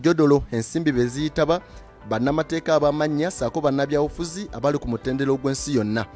jodolo ensimbi be ziyitaba bannamateeka abamannya saako bannabyabufuzi abali ku mutendera ogw'ensi yonna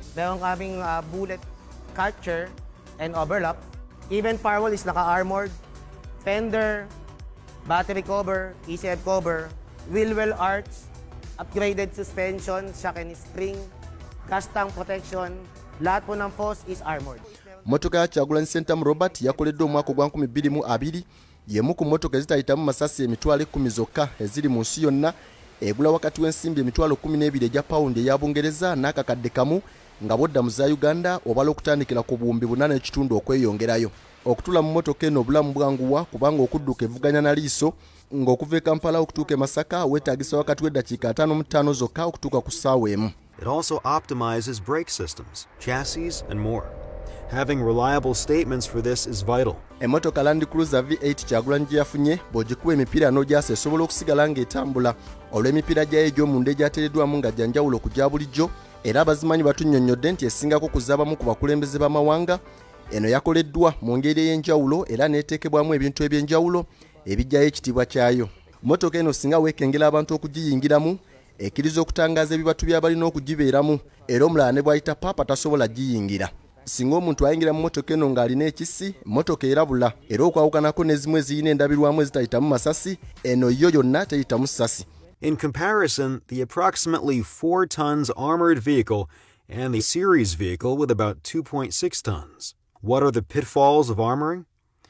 mmotoka ya kyagulanyi sentamu robert yakoleddwa omwaka ogwa 2020 y'emu ku mmotoka ezitayitamu masasi emitwalo ekkumi zokka eziri mu nsi yonna egula wakati w'ensimbi emitwalo kkumi n'ebiri egya pawundi eya bungereza n'akakadde kamu nga bodda mu za uganda obala okutandikira ku buwumbi buna n'ekitundu okweyongerayo okutula mu mmotoka eno obulamu bwanguwa kubanga okudduka evuganya na liiso ng'okuva e kampala okutuuka e masaka weetaagisa wakati w'eddakiika ataano mu ttaano zokka okutuuka ku ssaawa emu It also optimizes brake systems, chassis, and more. Having reliable statements for this is vital. Emotoka Land Cruiser V8 Kyagulanyi gye yafunye bw'ogikuba emipiira n'ogyasa esobola okusigala ng'etambula olw'emipiira gyayo egy'omunda egyateereddwamu nga gya njawulo ku gya bulijjo era abazimanyi batunnyonnyodde nti esingako ku z'abamu ku bakulembeze b'amawanga eno yakoleddwa mu ngeri ey'enjawulo era n'eteekebwamu ebintu eby'enjawulo ebijjayo ekitiibwa kyayo mmotoka eno singa weekengera abantu okugiyingiramu ekkiriza okutangaza ebibatu by'abalina okugibeeramu era omulala ne bw'ayita paapa tasobola giyingira singa omuntu ayingira mu motoka eno ng'alina ekisi motoka erabula era okwawukanako n'ezimu ezirina endabirwamu ezitayitamu masasi eno yo yonna teyitamu sasi In comparison, the approximately 4 tons armored vehicle and the series vehicle with about 2.6 tons. What are the pitfalls of armoring?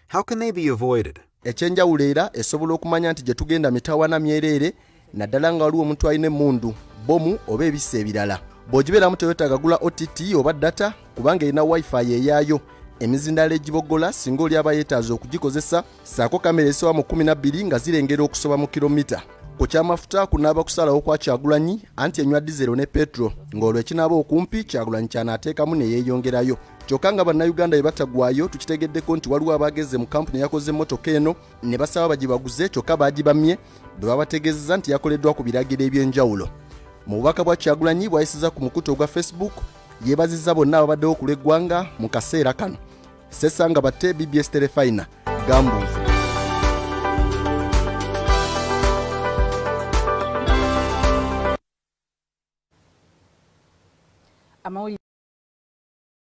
How can they be avoided? Ekyenjawulo era esobola okumanya nti gye tugenda mitawana myereere naddala nga waliwo omuntu alina emmundu, bbomu oba ebisa ebirala. Bw'ogibeeramu tewetaaga gula OTT oba data kubanga erina wifi eyaayo emizindaalo egiboggola singa oli aba yeetaaza okugikozesa saako kamera esoba mu 12 nga zirengera okusoba mu kilomita ku kyamafuta kunaaba kusalawo kwa kyagulanyi anti enywa dizero ne petro ng'olwo ekinaaba okumpi kyagulanyi kyanaateekamu ne yeeyongerayo kyokka nga bannayuganda bye batagwayo tukitegeddeko nti waliwo abaageze mu kampuni eyakoze emmotoka eno ne basaba bagibaguze kyokka baagibamye bwe babategeezeza nti yakoleddwa ku biragiro eby'enjawulo mu bubaka bwa kyagulanyi bwayisiza ku mukutu ogwa facebook yeebazizza bonna ababaddewo ku lw'eggwanga mu kaseera kano sesanga batte bbs terefayina gambuuzi amawulire